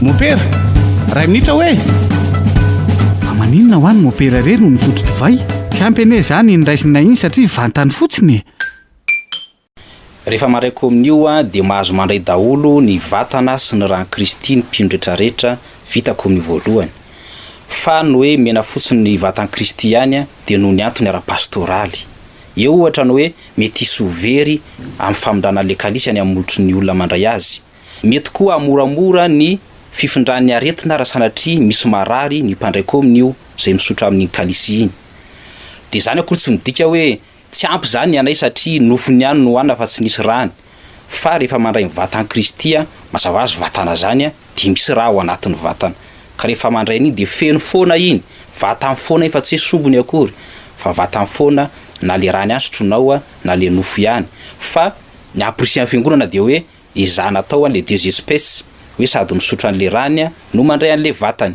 Mompera, ray minitra hoe amaninona ho any mompera re no misotro divay? Tsy ampy anie izany ny raisina iny satria vantany fotsiny e. Rehefa mandray kominio dia mahazo mandray daholo ny vatana sy ny ran'i Kristy ny mpino retraretra vita kominio voalohany. Fa ny hoe mena fotsiny ny vatan'i Kristy ihany dia noho ny antony ara-pastoraly. Eo ohatra ny hoe mety hisy ho very amin'ny famindrana an'ilay kalisy any amin'ny molotry ny olona mandray azy. Mety koa hamoramora ny fifindran'ny aretina raha sanatria misy marary ny mpandray kominio izay misotra amin'iny kalisy iny. Dia izany akory tsy midika hoe. Tsy ampy izany ny anay satria nofony ihany no hohanina fa tsy nisy rany. Fa rehefa mandray ny vatan'i Kristy, mazava azy vatana izany, dia misy ra ao anatin'ny vatana. Ka rehefa mandray an'iny dia feno foana iny, vatany foana iny fa tsy hoe sombiny akory, fa vatany foana na ilay rany ihany sotroinao na ilay nofo ihany. Fa ny amporisihan'ny Fiangonana dia hoe ezahina atao ilay deux espèces, hoe sady misotro an'ilay rany no mandray an'ilay vatany.